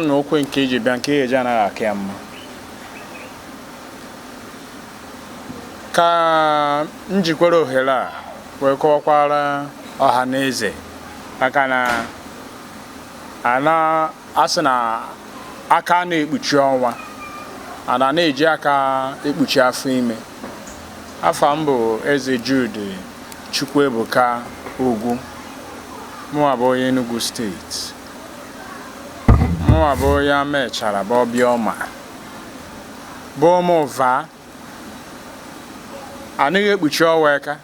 na okwe nke iji bịa nke eji anaghị aka ya mma ka m jikwara ohere a wee kọwakwara ọha na eze maka na ana asị na aka na-ekpuchi ọnwa ana na-eji aka ekpuchi afọ ime afa m bụ eze Jude Chukwuebuka Ugwu mụwa bụ onye Enugu steeti mụnwa bụ onye Amaechara bụ Obiọma bụ ụmụ ụva anaghị ekpuchi ọnwa aka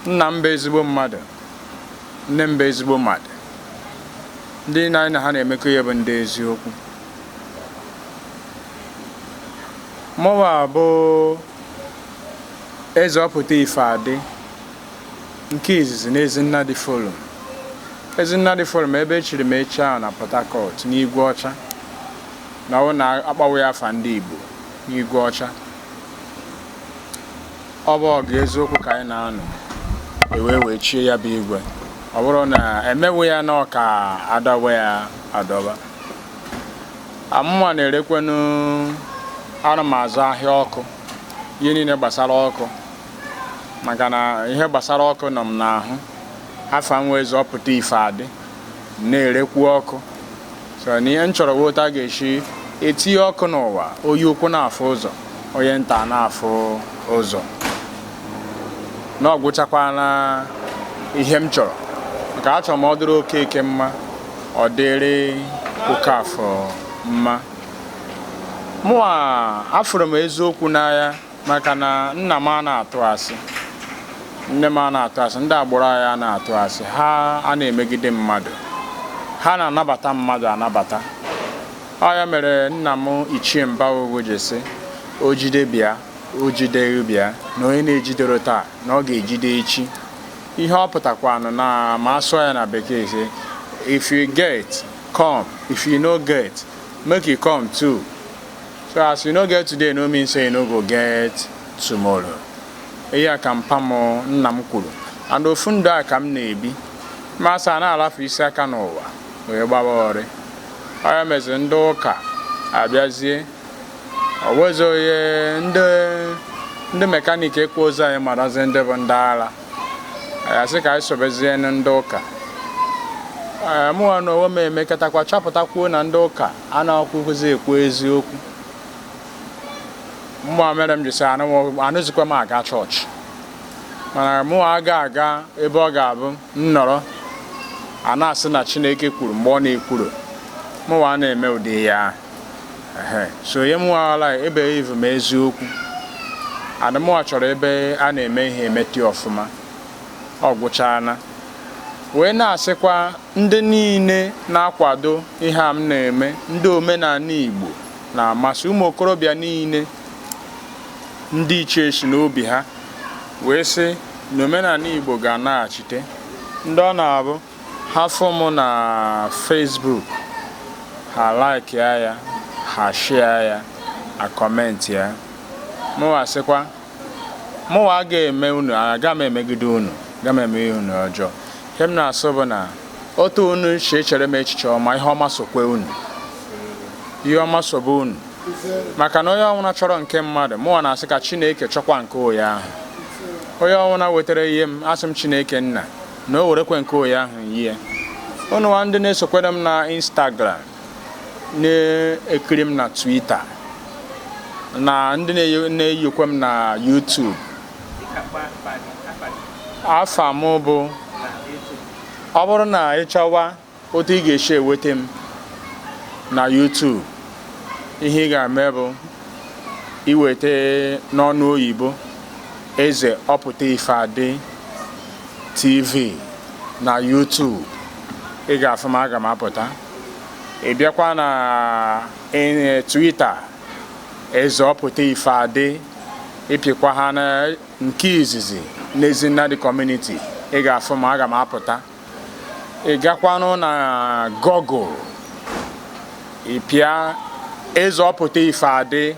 nna m bụ ezigbo mmadụ nne m bụ ezigbo mmadụ ndị nna anyị na ha na-emekọ ihe bụ ndị eziokwu mụnwa bụ eze ọpụta ife adị nke izizi na Ezinnadị Forum. Ezinnadị Forum ebe echiri m echi ahụ na Port Harcourt n'Igwe Ọcha na ọ bụrụ na akpọwa ya afa ndị Igbo n'Igwe Ọcha. Ọ bụ ọgụ eziokwu ka anyị na-anụ ewee wee chie ya bụ igwe ọ bụrụ na emewe ya na ọka adọba ya adọba amụma na-erekwanụ ana m azụ ahịa ọkụ ihe niile gbasara ọkụ maka na ihe gbasara ọkụ nọ m n'ahụ afa m eze ọpụta ife adị na-erekwu ọkụ so na ihe m chọrọ wọta ga-esi etinye ọkụ n'ụwa onye ukwu na-afụ ụzọ onye nta na-afụ ụzọ na ọ gwụchakwana ihe m chọrọ maka achọrọ m ọ dịrị Okeke mma ọ dịrị Okafọ mma mụwa afụrụ m eziokwu n'anya maka na nna m a na-atụ asị nne m a na-atụ asị ndị agbụrụ anyị a na-atụ asị ha a na-emegide mmadụ ha na-anabata mmadụ anabata ọ ya mere nna m ichie Mba Ugwu ji sị o jide bịa o jide bịa na onye na-ejidero taa na ọ ga-ejide echi ihe ọ pụtakwanụ na ma asụọ ya na bekee sị if you get come if you no get make you come too so as you no get today no mean say you no go get tomorrow ihe a ka mpa m nna m kwuru and ofu ndụ a ka m na-ebi ma asa na-alafe isi aka n'ụwa wee gbaba ọrị ọ ya mezi ndị ụka abịazie ọwezi onye ndị mekaniki ekwerozi anyị marazi ndị bụ ndị ara ya sị ka anyị sobezie ndị ụka mụnwa na onwe m emekọtakwa chọpụtakwuo na ndị ụka anakwuzi ekwu eziokwu mụwa mere m ji sị anazikwa m aga chọọchị mana mụwa aga aga ebe ọ ga-abụ m nọrọ a na-asị na chineke kwuru mgbe ọ na-ekwuru mụwa a na-eme ụdị ya so ihe mụwa ala ebe ivu m eziokwu adị mụwa chọrọ ebe a na-eme ihe emeti ọfụma ọ gwụchaala wee na-asịkwa ndị niile na-akwado ihe a m na-eme ndị omenala Igbo na-amasị ụmụ okorobịa niile ndị ichie si n'obi ha wee sị na omenala Igbo ga-anaghachite ndị ọ na-abụ ha fụ m na Facebook ha like ya ha share ya ha comment ya mụwa sịkwa mụnwa agaghị eme unu aga m emegide unu aga m eme unu ọjọọ ihe m na-asị bụ na otu unu si echere m echiche ọma ihe ọma sokwe unu ihe ọma sobe unu maka na onye ọnwụna chọrọ nke mmadụ mụnwa na-asị ka chineke chọkwa nke onye ahụ onye ọnwụna wetere ye m asị m chineke nna na o werekwe nke onye ahụ yie ununwa ndị na-esokwere m na instagram na-ekiri m na Twitter na ndị na-eyikwe m na YouTube afa m bụ ọ bụrụ na ị chọwa otu ị ga-esi eweta m na YouTube ihe ị ga-eme bụ iweta n'ọnụ oyibo eze ọpụta ife adị TV na YouTube ị ga-afụ m aga m apụta ị bịakwa na eh, Twitter eze ọpụta ife adị ị pịkwa ha na nke izizi n'Ezinnadị community ị ga-afụ m aga m apụta ị gakwanụ na Google ị pịa eze ọpụta ife adị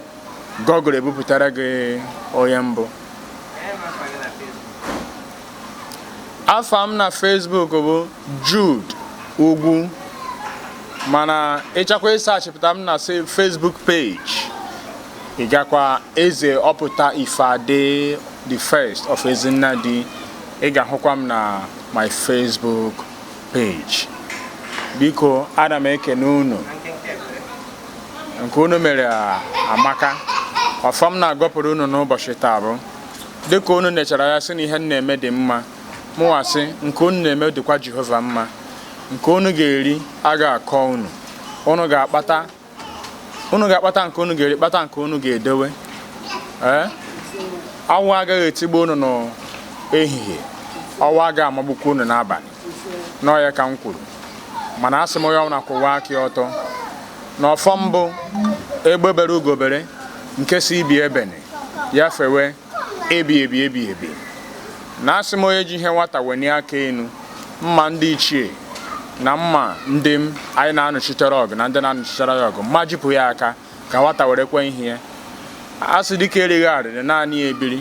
Google ebupụtara gị onye m bụ afa m na Facebook bụ Jude Ugwu mana ị chọkwa ịsachipụta m na Facebook page ị gakwa eze ọpụta ife adị the first of Ezinnadi ị ga-ahụkwa m na my Facebook page biko ana m ekene unu nke unu mere amaka ọfọ m na-agọpụrụ unu n'ụbọchị taa bụ dịka unu nechara ya sị na ihe m na-eme dị mma mụwa sị nke unu na-eme dịkwa Jehova mma nke unu ga-eri aga akọ unu unu ga-akpata unu ga-akpata nke unu ga-eri kpata nke unu ga-edowe ee anwụ agaghị etigbu unu n'ehihie ọnwa agaghị amagbukwa unu n'abalị na ọ ya ka m kwuru mana asị m onye ọbụla kwụwa aka ya ọtọ na ọfọ m bụ egbe bere ugo bere nke sị ibe ebene ya fewe ebi ebi ebi ebi na asị m onye ji ihe nwata wenie aka enu mma ndị ichie na mma ndị m anyị na-anụchitere ọgụ na ndị na-anụchitere ya ọgụ mma jipụ ya aka ka nwata werekwa ihe ya a sị dike erighị arịrị naanị ya ebiri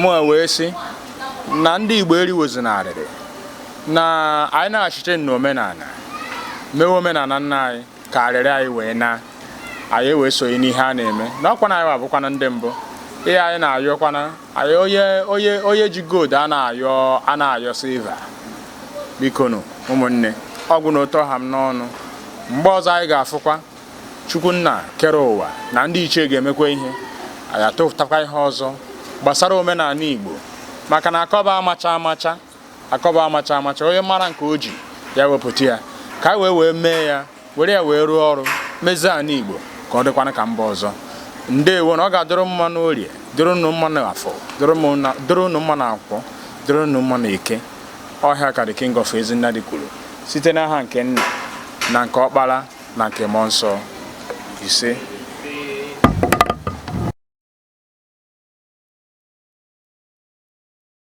mụ wee sị na ndị Igbo eriwozina arịrị na anyị na-achịte n'omenana mewe omenana nna anyị ka arịrị anyị wee naa anyị wee sonye n'ihe a na-eme na ọ kwa anyị bụkwanụ ndị mbụ ihe anyị na-ayọkwana anyị onye onye onye ji gold a na-ayọ a na-ayọ silver bikonụ ụmụnne ọ gwụna otu ọ ha m n'ọnụ mgbe ọzọ anyị ga-afụkwa chukwu nna kere ụwa na ndị ichie ga-emekwa ihe anyị atụtakwa ihe ọzọ gbasara omenana igbo maka na akọba amacha amacha akọba amacha amacha onye mara nke o ji ya wepụta ya ka anyị wee wee mee ya were ya wee rụọ ọrụ mezie ana igbo ka ọ dịkwana ka mba ọzọ ndewonụ ọ ga-adịrị mma n'orie dịrị unu mma n'afọ dịrị unu mma na nkwọ dịrị unu mma n'eke ọ ihe a ka the king of Ezinnadị kwuru site n'aha nke nna na nke ọkpara na nke mmụọ nsọ ise